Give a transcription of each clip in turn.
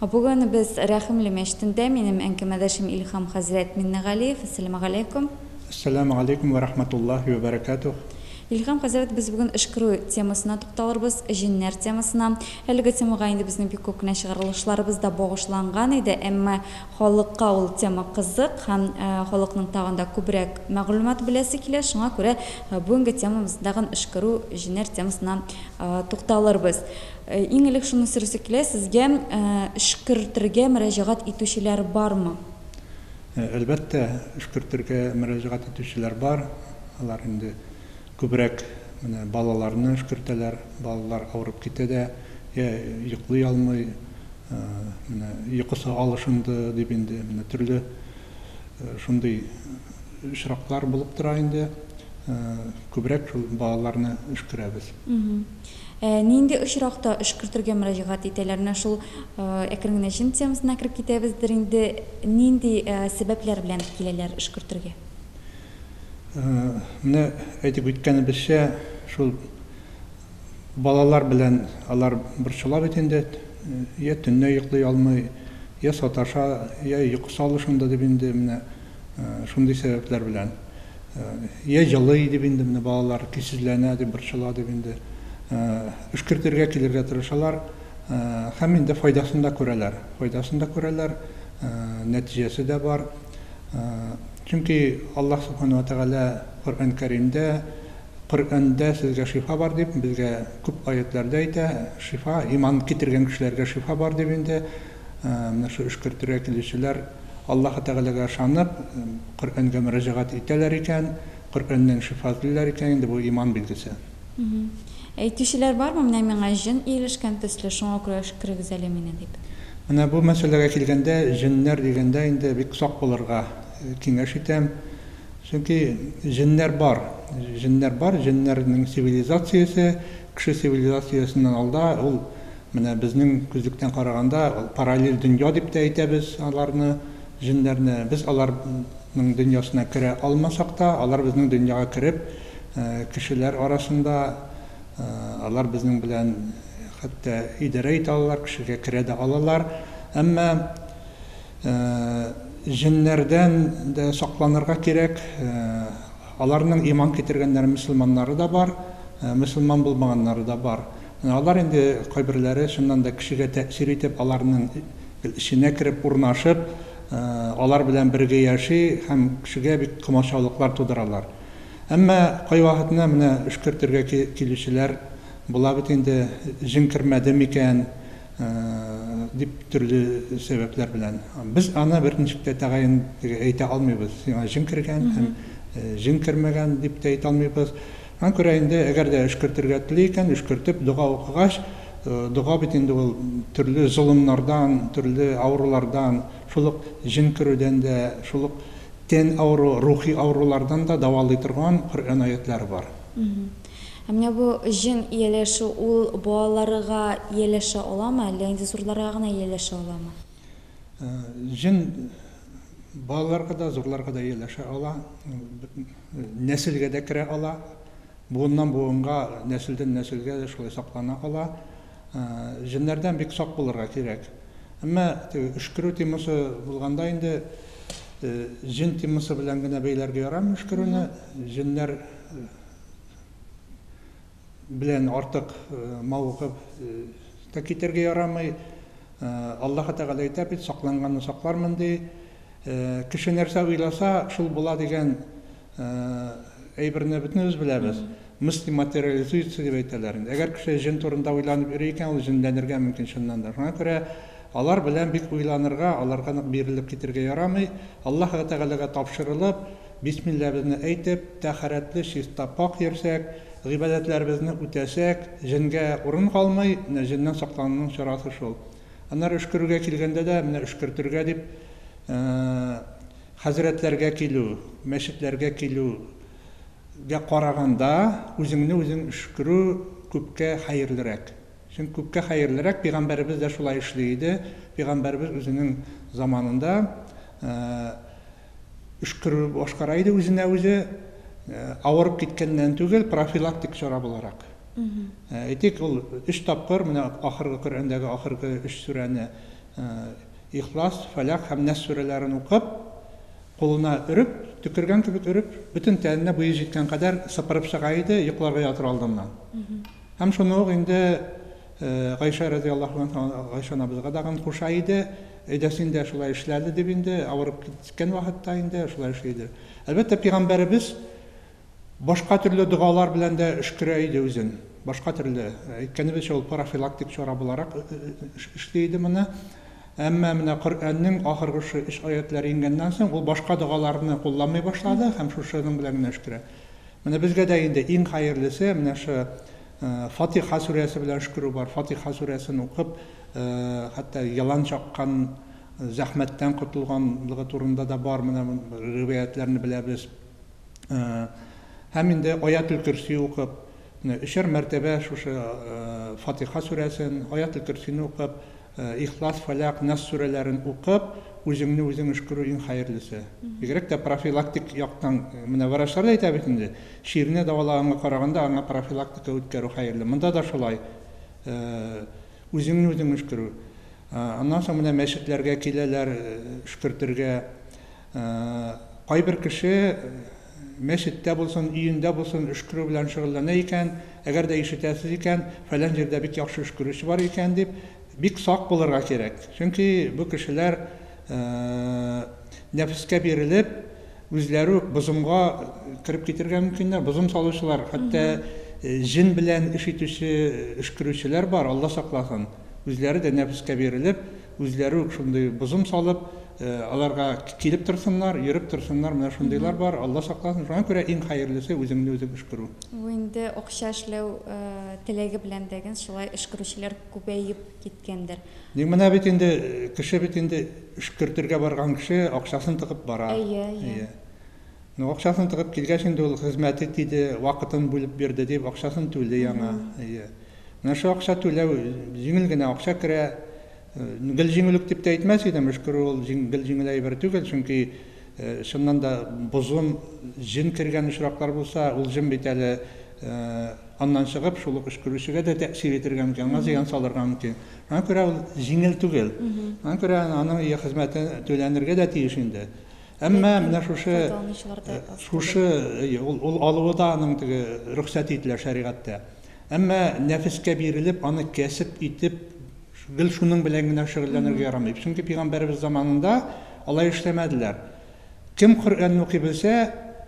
Бүген без Рәхимле мәчетендә, минем әңкәмәдәшем Илһам хәзрәт Миннегалиев. Әссәламегаләйкүм. Әссәламегаләйкүм вә рахматуллаһи вә бәрәкәтүһ. Илһам хәзрәт, без бүген Өшкерү темасына тукталырбыз, җеннәр темасына. Әлеге темага инде безнең бик күп кенә чыгарылышларыбыз да багышланган иде, әмма халыкка ул тема кызык һәм халыкның тагын да күбрәк мәгълүмат беләсе килә, шуңа күрә бүгенге темабыз тагын Өшкерү, җеннәр темасына тукталырбыз. Иң элек шуны сорыйсы килә, сезгә эшкертергә мөрәҗәгать итүчеләр бармы? Әлбәттә, эшкертергә мөрәҗәгать итүчеләр бар. Алар инде күбрәк менә балаларны эшкертәләр. Балалар авырып китә дә, йә йоклый алмый, менә йокысы алышынды, дип инде менә төрле шундый очраклар булып тора инде. Күбрәк шул балаларны эшкерәбез. Ә нинди очракта эшкөртергә мөрәҗәгать итәләр? Менә шул әкрен генә җен темасына кереп китәбездер инде. Нинди сәбәпләр белән киләләр эшкөртергә? Менә әйтеп үткәнебезчә, шул балалар белән алар борчыла бит инде. Йә төнлә йоклый алмый, йә саташа, йә йокысы алышынды дип инде менә Шундый сәбәпләр белән. Йә җылый дип инде менә балалар көйсезләнә дип борчыла дип инде өшкертергә килергә тырышалар. Һәм инде файдасын да күрәләр. Файдасын да күрәләр, нәтиҗәсе дә бар. Чөнки Аллаһ Субхана ва Тәгалә Коръән Кәримдә Коръәндә сезгә шифа бар дип безгә күп аятьләрдә әйтә. Шифа иман китергән кешеләргә шифа бар дип инде. Менә шул Өшкертергә килүчеләр Аллаһы Тәгаләгә ышанып, Коръәнгә мөрәҗәгать итәләр икән, Коръәннән шифа эзлиләр икән, инде бу иман билгесе. Әйтүчеләр бармы, менә миңа җен ияләшкән төсле, шуңа күрә өшкерегез әле мине, дип? Менә бу мәсьәләгә килгәндә, җеннәр дигәндә инде бик сак булырга киңәш итәм. Чөнки җеннәр бар. Җеннәр бар, җеннәрнең цивилизациясе кеше цивилизациясеннән алда, ул Менә безнең күзлектән караганда, ул параллель дөнья дип тә әйтәбез аларны, җеннәрне. Без алар ның дөньясына керә алмасак та, алар безнең дөньяга кереп, кешеләр арасында, алар безнең белән хәтта идарә итә алалар, кешегә керә дә алалар. Әмма җеннәрдән дә сакланырга кирәк. Аларның иман китергәннәре, мөселманнары да бар, мөселман булмаганнары да бар. Менә алар инде кайберләре чыннан да кешегә тәэсир итеп, аларның эченә кереп урнашып, алар белән бергә яши һәм кешегә бик комачаулыклар тудыралар. Әмма кайвакытны менә өшкертергә килүчеләр була бит инде, җен кермәде микән дип төрле сәбәпләр белән. Без аны бер ничек тә тәгаен әйтә алмыйбыз, сиңа җен кергән һәм җен кермәгән дип тә әйтә алмыйбыз. Шуңа күрә инде, әгәр дә өшкертергә тели икән, өшкертеп, дога укыгач, дога бит инде ул төрле золымнардан, төрле авырулардан, шул ук җен керүдән дә, шул ук тән авыру, рухи авырулардан да дәвалый торган Коръән аятьләре бар. Ә менә бу җен ияләшү, ул балаларга ияләшә аламы, әллә инде зурларга гына ияләшә аламы? Җен балаларга да, зурларга да ияләшә ала. нәселгә дә керә ала, буыннан-буынга, нәселдән-нәселгә дә шулай саклана ала. Җеннәрдән бик сак булырга кирәк. Әмма теге өшкерү темасы булганда инде җен темасы белән генә бәйләргә ярамый өшкерүне. Җеннәр Белән артык мавыгып та китәргә ярамый. Аллаһы Тәгалә әйтә бит, Сакланганны саклармын, ди. Кеше нәрсә уйласа, шул була дигән әйберне бөтенебез беләбез. Мысли материализуется дип әйтәләр. Әгәр кеше җен турында уйланып йөри икән, ул җенләнергә мөмкин чыннан да. Шуңа күрә алар белән бик уйланырга, аларга нык бирелеп китергә ярамый. Аллаһы Тәгаләгә тапшырылып, Бисмилләбезне әйтеп, тәһарәтле чиста пакь йөрсәк, гыйбадәтләребезне үтәсәк, җенгә урын калмый, менә җеннән саклануның чарасы шул. Аннары өшкерергә килгәндә дә, менә өшкертергә дип хәзрәтләргә килү, мәчетләргә килүгә караганда, үзеңне үзең өшкерү күпкә хәерлерәк. Чөнки күпкә хәерлерәк, пигамбәребез дә шулай эшли иде, пигамбәребез үзенең заманында, өшкерү башкара иде үзенә үзе авырып киткәннән түгел, профилактик чара буларак. Әйтик, ул өч тапкыр менә ахыргы Коръәндәге ахыргы өч сүрәне Ихлас, Фәләх һәм Нәс сүрәләрен укып, кулына өреп, төкергән кебек өреп, бөтен тәненә буе җиткән кадәр сыпырып чыга иде йокларга ятыр алдыннан. Һәм шуны ук инде Гайшә разыяллаһу анһа Гайшә анабызга дагын куша иде, Әйдә син дә шулай эшләде дип инде, авырып киткән вакытта инде шулай эшли иде. Әлбәттә, пигамбәребез башка төрле догалар белән дә өшкерә иде үзен. Башка төрле, әйткәнебезчә, ул парафилактик чара буларак эшли иде моны. Әмма менә Коръәннең ахыргы шушы өч аятьләре иңгәннән соң, ул башка догаларны кулланмый башлады һәм шушының белән генә өшкерә. Менә безгә дә инде иң хәерлесе, менә шушы Фатиха сүрәсе белән өшкерү бар. Фатиха сүрәсен укып, хәтта елан чаккан, зәхмәттән котылганлыгы турында да бар, менә риваятьләрне беләбез. Һәм инде Аятел-көрси укып, өчәр мәртәбә шушы Фатиха сүрәсен, Аятел-көрсине укып, Ихлас, Фәләк, Нас сүрәләрен укып, үзеңне үзең өшкерү иң хәерлесе. Бигрәк тә профилактик яктан, менә врачлар да әйтә бит инде, чирне дәвалаганга караганда аңа профилактика үткәрү хәерле. Монда да шулай, үзеңне үзең өшкерү. Аннан соң менә мәчетләргә киләләр өшкертергә. Кайбер кеше, Мәчеттә булсын, өендә булсын өшкерү белән шөгыльләнә икән, әгәр дә ишетәсез икән, фәлән җирдә бик яхшы өшкерүче бар икән дип, бик сак булырга кирәк. Чөнки бу кешеләр нәфескә бирелеп, үзләре үк бозымга кереп китергә мөмкиннәр. Бозым салучылар, хәтта җен белән эш итүче өшкерүчеләр бар, Алла сакласын. Үзләре дә нәфескә бирелеп, Үзләре үк шундый бозым салып, аларга килеп торсыннар, йөреп торсыннар, менә шундыйлар бар, Алла сакласын, шуңа күрә иң хәерлесе үзеңне үзең өшкерү. Бу инде акча эшләү теләге белән дә генс шулай өшкерүчеләр күбәеп киткәндер. Ник менә бит инде кеше бит инде өшкертергә барган кеше акчасын тыгып бара. Әйе, әйе. Ну акчасын тыгып килгәч инде ул хезмәте тиде, вакытын бүлеп бирде дип акчасын түли аңа. Әйе. Менә шул акча түләү, җиңел генә акча керә. Гел җиңел үк дип тә әйтмәс идем, өшкерү ул гел җиңел әйбер түгел, чөнки чыннан да бозым, җен кергән очраклар булса, ул җен бит әле аннан чыгып, шул ук өшкерүчегә дә тәэсир итәргә мөмкин, аңа зыян салырга мөмкин. Шуңа күрә ул җиңел түгел. Шуңа күрә аның ие хезмәте түләнергә дә тиеш инде. Әмма менә шушы шушы ул алуы да аның теге рөхсәт ителә шәригатьтә. Әмма нәфескә бирелеп, аны кәсеп итеп, гел шуның белән генә шөгыльләнергә ярамый. Чөнки пигамбәребез заманында алай эшләмәделәр. Кем Коръәнне укый белсә,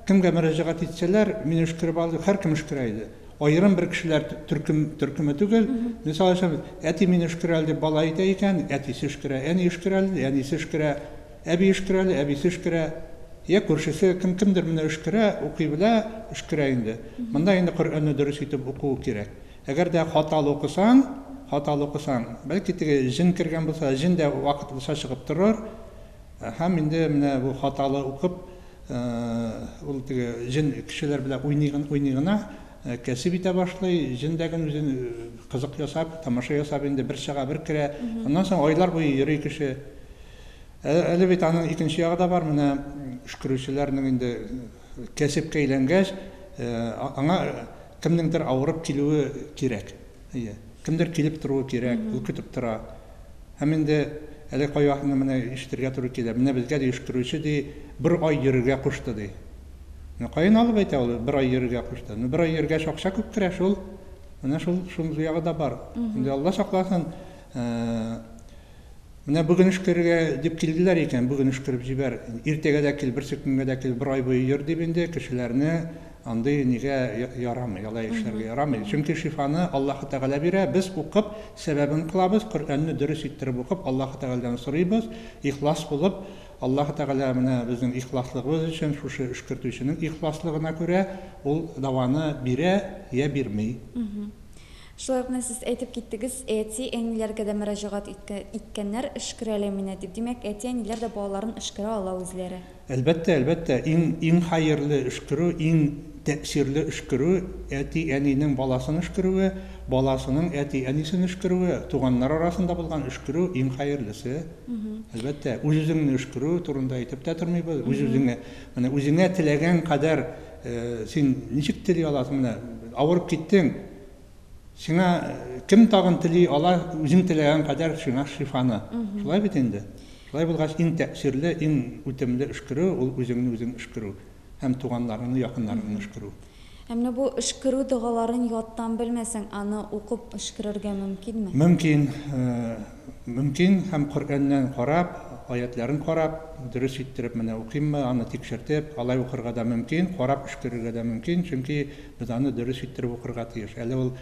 кемгә мөрәҗәгать итсәләр, мин өшкереп ал, һәркем өшкерә иде. Аерым бер кешеләр төркем төркеме түгел. Мисал өчен, әти мин өшкерә әле дип бала әйтә икән, әтисе өшкерә, әни өшкерә әле, әнисе өшкерә. Әби өшкерә әле, әбисе өшкерә, йә күршесе, кем кемдер менә өшкерә, укый белә, өшкерә инде. Монда инде Коръәнне дөрес итеп укуы кирәк. Әгәр дә хаталы укысаң, хаталы укысаң, бәлки теге җен кергән булса, җен дә вакытлыча чыгып торыр, һәм инде менә бу хаталы укып, ул теге җен кешеләр белән уйный гына, уйный гына, кәсеп итә башлый, җен дә гел үзен кызык ясап, тамаша ясап инде бер чыга, бер керә, аннан соң айлар буе йөри кеше. Әле бит аның икенче ягы да бар, менә өшкерүчеләрнең инде кәсепкә әйләнгәч, аңа кемнеңдер авырып килүе кирәк. Әйе. Кемдер килеп торуы кирәк, ул көтеп тора. Һәм инде әле кайвакытны менә ишетергә туры килә, менә безгә ди өшкерүче ди бер ай йөрергә кушты ди. Ну каян алып әйтә ул бер ай йөрергә кушты? Ну бер ай йөргәч акча күп керә шул. Менә шул шундый ягы да бар. Инде Алла сакласын. Менә бүген өшкерергә дип килделәр икән, бүген өшкереп җибәр, иртәгә дә кил, берсе көнгә дә кил, бер ай буе йөр, дип инде кешеләрне андый нигә ярамый, алай эшләргә ярамый. Чөнки шифаны Аллаһы Тәгалә бирә, без укып, сәбәбен кылабыз, Коръәнне дөрес иттереп укып, Аллаһы Тәгаләдән сорыйбыз, ихлас булып, Аллаһы Тәгалә менә безнең ихласлыгыбыз өчен, шушы өшкертүченең ихласлыгына күрә, ул даваны бирә йә бирми. Шулай ук менә сез әйтеп киттегез, әти, әниләргә дә мөрәҗәгать иткәннәр, өшкерәләр мине дип. Димәк, әти, әниләр дә балаларын өшкерә ала үзләре. Әлбәттә, әлбәттә. Иң, иң хәерле өшкерү, иң тәэсирле өшкерү, әти, әнинең баласын өшкерүе, баласының әти, әнисен өшкерүе, туганнар арасында булган өшкерү, иң хәерлесе. Әлбәттә. Үз-үзеңне өшкерү турында әйтеп тә тормыйбыз. Үз-үзеңә, менә үзеңә теләгән кадәр, син ничек тели аласың, менә авырып киттең, Сиңа кем тагын тели, ала үзең теләгән кадәр сиңа шифаны. Шулай бит инде. Шулай булгач, иң тәэсирле, иң үтемле өшкерү ул үзеңне үзең өшкерү һәм туганнарыңны, якыннарыңны өшкерү. Ә менә бу өшкерү догаларын яттан белмәсәң, аны укып өшкерергә мөмкинме? Мөмкин. Мөмкин, һәм Коръәннән карап, аятьләрен карап, дөрес иттереп менә укыйммы, аны тикшертеп, алай укырга да мөмкин, карап өшкерергә дә мөмкин, чөнки без аны дөрес иттереп укырга тиеш. Әле ул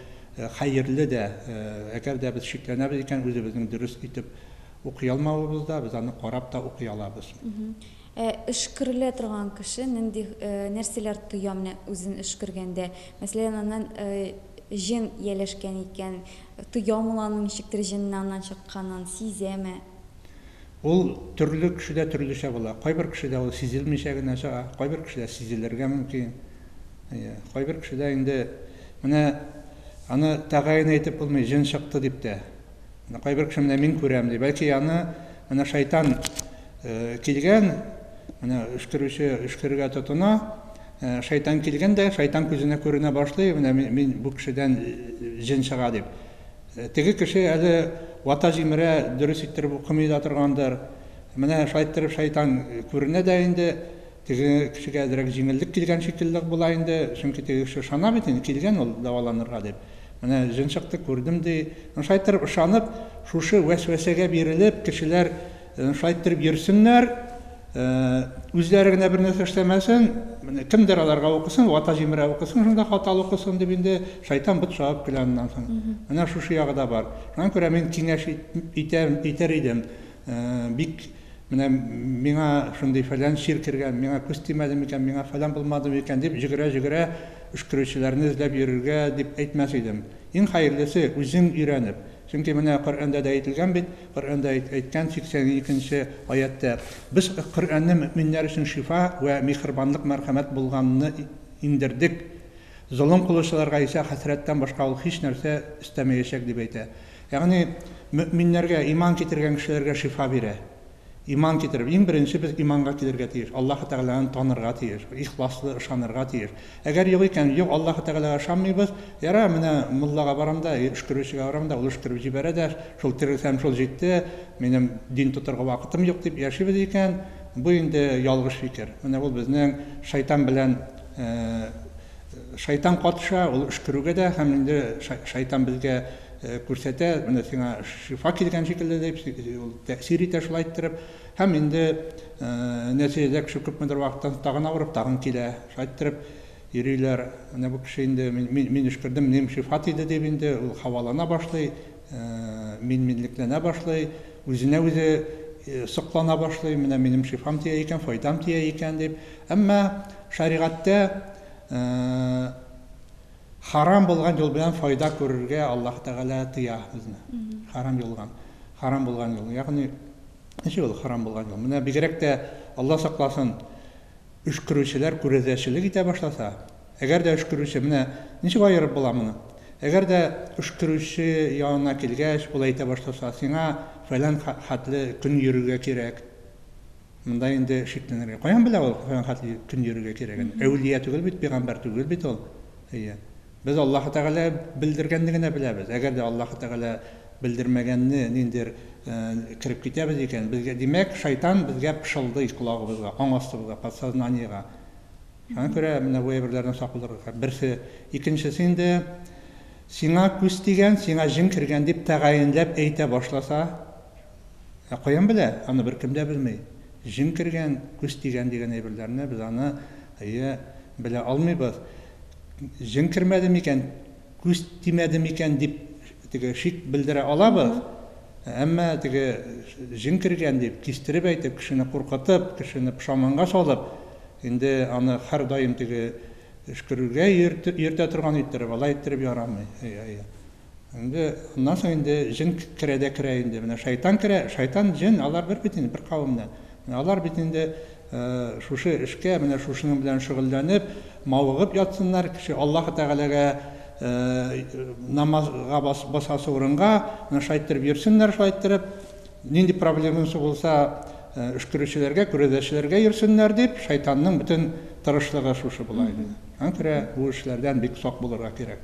хәерле дә, әгәр дә без шикләнәбез икән, үзебезнең дөрес итеп укый алмавыбызда, без аны карап та укый алабыз. Ә өшкерелә торган кеше нинди нәрсәләр тоя менә үзен өшкергәндә? Мәсәлән, аннан җен ияләшкән икән, тоямы ул аның ничектер җеннең аннан чыкканын, сизәме? Ул төрле кешедә төрлечә була. Кайбер кешедә ул сизелмичә генә чыга, кайбер кешедә сизелергә мөмкин. Әйе, кайбер кешедә инде менә аны тәгаен әйтеп булмый, җен чыкты дип тә. Менә кайбер кеше менә мин күрәм ди. Бәлки аны менә шайтан килгән, менә өшкерүче өшкергә тотына, шайтан килгән дә, шайтан күзенә күренә башлый, менә мин бу кешедән җен чыга дип. Теге кеше әле вата җимерә, дөрес иттереп укымый да торгандыр. Менә шайттерып шайтан күренә дә инде, Теге кешегә әзрәк җиңеллек килгән шикелле була инде, чөнки теге кеше ышана бит инде, килгән ул дәваланырга дип. Менә җен чыкты, күрдем, ди. Ну, шулай иттереп ышанып, шушы вәсвәсәгә бирелеп, кешеләр шулай иттереп йөрсеннәр, үзләре генә бернәрсә эшләмәсен, кемдер аларга укысын, вата-җимерә укысын, шунда хаталы укысын, дип инде шайтан бот чабып көлә аннан соң. Менә шушы ягы да бар. Шуңа күрә мин киңәш итәм, итәр идем, Бик менә миңа шундый фәлән чир кергән, миңа күз тимәде микән, миңа фәлән булмады микән, дип җөгерә-җөгерә өшкерүчеләрне эзләп йөрергә дип әйтмәс идем. Иң хәерлесе, үзең өйрәнеп. Чөнки менә Коръәндә дә әйтелгән бит, Коръәндә әйткән 82 нче аятьтә, Без Коръәнне мөэминнәр өчен шифа вә миһербанлык мәрхәмәт булганны иңдердек, золым кылучыларга исә хәсрәттән башка ул һичнәрсә өстәмәячәк дип әйтә. Ягъни, мөэминнәргә, иман китергән кешеләргә шифа бирә. Иман китереп, иң беренче без иманга килергә тиеш, Аллаһы Тәгаләне танырга тиеш, ихласлы ышанырга тиеш. Әгәр юк икән, юк, Аллаһы Тәгаләгә ышанмыйбыз, ярар, менә муллага барам да, өшкерүчегә барам да, ул өшкереп җибәрә дә, шул терелсәм, шул җитте, минем дин тотарга вакытым юк, дип яшибез икән, бу инде ялгыш фикер. Менә ул безнең шайтан белән Шайтан катыша, ул өшкерүгә дә һәм инде шайтан безгә Күрсәтә, менә сиңа шифа килгән шикелле, дип, ул тәэсир итә шулай иттереп. Һәм инде нәтиҗәдә кеше күпмедер вакыттан тагын авырып, тагын килә. Шулай иттереп йөриләр. Менә бу кеше инде мин өшкердем, минем шифа тиде, дип инде ул һавалана башлый, мин-минлекләнә башлый, үзенә үзе соклана башлый, менә минем шифам тия икән, файдам тия икән, дип. Әмма шәригатьтә Харам булган юл белән файда күрергә Аллаһ Тәгалә тыя безне. Харам юлган, харам булган юл. Ягъни, ничек ул харам булган юл? Менә бигрәк тә, Алла сакласын, өшкерүчеләр күрәзәчелек итә башласа, әгәр дә өшкерүче, менә ничек аерып була моны? Әгәр дә өшкерүче янына килгәч, ул әйтә башласа, сиңа фәлән хәтле көн йөрергә кирәк, Монда инде шикләнергә. Каян белә ул фәлән хәтле көн йөрергә кирәген? Әүлия түгел бит, пигамбәр түгел бит ул. Әйе. Без Аллаһы Тәгалә белдергәнне генә беләбез. Әгәр дә Аллаһы Тәгалә белдермәгәнне ниндидер кереп китәбез икән, безгә, димәк, шайтан безгә пышылдый колагыбызга, аң астыбызга, подсознаниегә. Шуңа күрә менә бу әйберләрдән сак булырга кирәк. Берсе. Икенчесе инде, сиңа күз тигән, сиңа җен кергән дип тәгаенләп әйтә башласа, Ә каян белә? Аны беркем дә белми. Җен кергән, күз тигән дигән әйберләрне без аны, әйе, белә алмыйбыз. Җен кермәде микән, күз тимәде микән дип теге шик белдерә алабыз. Әмма теге җен кергән дип, кистереп әйтеп, кешене куркытып, кешене пошаманга салып, инде аны һәрдаим теге өшкерергә йөртә торган иттереп, алай иттереп ярамый. Әйе, әйе. Инде аннан соң инде җен керә дә керә инде. Менә шайтан керә, шайтан, җен, алар бер бит инде, бер кавемнән. Менә алар бит инде шушы эшкә, менә шушының белән шөгыльләнеп, мавыгып ятсыннар, кеше Аллаһы Тәгаләгә намазга басасы урынга, менә шулай иттереп йөрсеннәр, шулай иттереп, нинди проблемасы булса, өшкерүчеләргә, күрәзәчеләргә йөрсеннәр дип, шайтанның бөтен тырышлыгы шушы була иде. Аннан керә, бу эшләрдән бик сак булырга кирәк.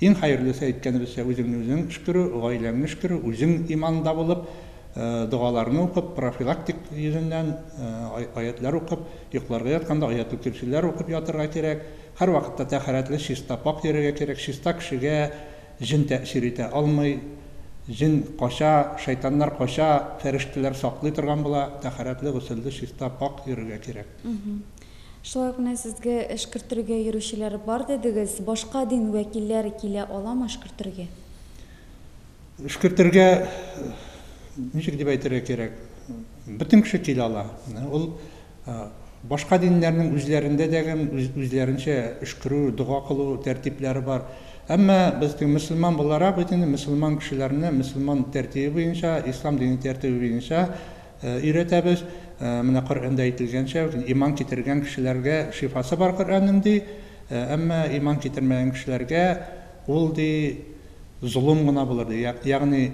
Иң хәерлесе, әйткәнебезчә, үзеңне үзең өшкерү, гаиләңне өшкерү, үзең иманда булып, догаларны укып, профилактик йөзеннән аятьләр укып, йокларга ятканда аятел-көрсиләр укып ятырга кирәк. Һәрвакытта тәһарәтле, чиста, пакь йөрергә кирәк. Чиста кешегә җен тәэсир итә алмый. Җен кача, шайтаннар кача, фәрештәләр саклый торган була. Тәһарәтле, госелле, чиста, пакь йөрергә кирәк. Шулай ук менә сезгә эшкертергә йөрүчеләр бар дидегез. Башка дин вәкилләре килә аламы эшкертергә? Эшкертергә, ничек дип әйтергә кирәк, бөтен кеше килә ала. Ул башка диннәрнең үзләрендә дә гем үзләренчә өшкерү, дога кылу тәртипләре бар. Әмма без теге мөселман буларак бит инде мөселман кешеләрне мөселман тәртибе буенча, ислам дине тәртибе буенча Өйрәтәбез. Менә Коръәндә әйтелгәнчә, иман китергән кешеләргә шифасы бар Коръәннең, ди. Әмма иман китермәгән кешеләргә ул, ди, золым гына булыр, ди. Ягъни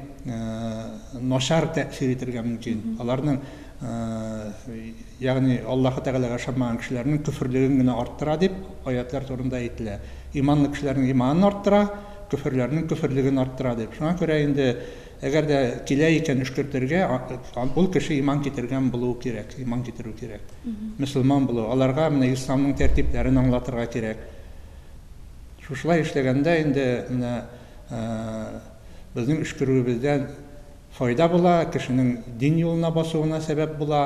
начар тәэсир итергә мөмкин. Аларның, ягъни Аллаһы Тәгаләгә ышанмаган кешеләрнең көферлеген генә арттыра, дип аятьләр турында әйтелә. Иманлы кешеләрнең иманын арттыра, көферләрнең көферлеген арттыра, дип. Шуңа күрә инде Әгәр дә килә икән өшкертергә, ул кеше иман китергән булуы кирәк, иман китерү кирәк. Мөселман булу, аларга менә исламның тәртипләрен аңлатырга кирәк. Шушылай эшләгәндә инде менә безнең өшкерүебездән файда була, кешенең дин юлына басуына сәбәп була.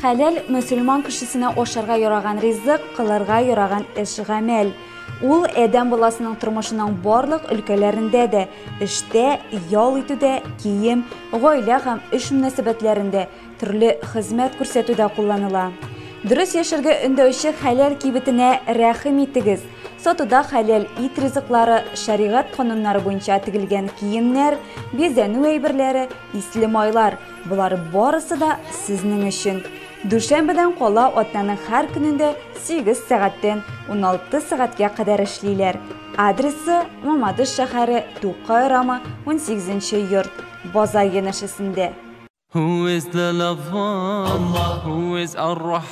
Хәләл, мөселман кешесенә ашарга яраган ризык, кылырга яраган эш-гамәл. Ул адәм баласының тормышының барлык өлкәләрендә дә, эштә, ял итүдә, кием, гаилә һәм эш мөнәсәбәтләрендә, төрле хезмәт күрсәтүдә кулланыла. Дөрес яшәргә өндәүче хәләл кибетенә рәхим итегез! Сатуда хәләл ит ризыклары, шәригать кануннары буенча тегелгән киемнәр, бизәнү әйберләре, Исле майлар, болар барысы да сезнең өчен. Дүшәмбедән кала атнаның һәр көнендә 8 сәгатьтән 16 сәгатькә кадәр эшлиләр. Адресы Мамадыш шәһәре, Тукай урамы, 18 йорт, База янәшәсендә. Who is the lover? Allah. Who is Ar-Rahman?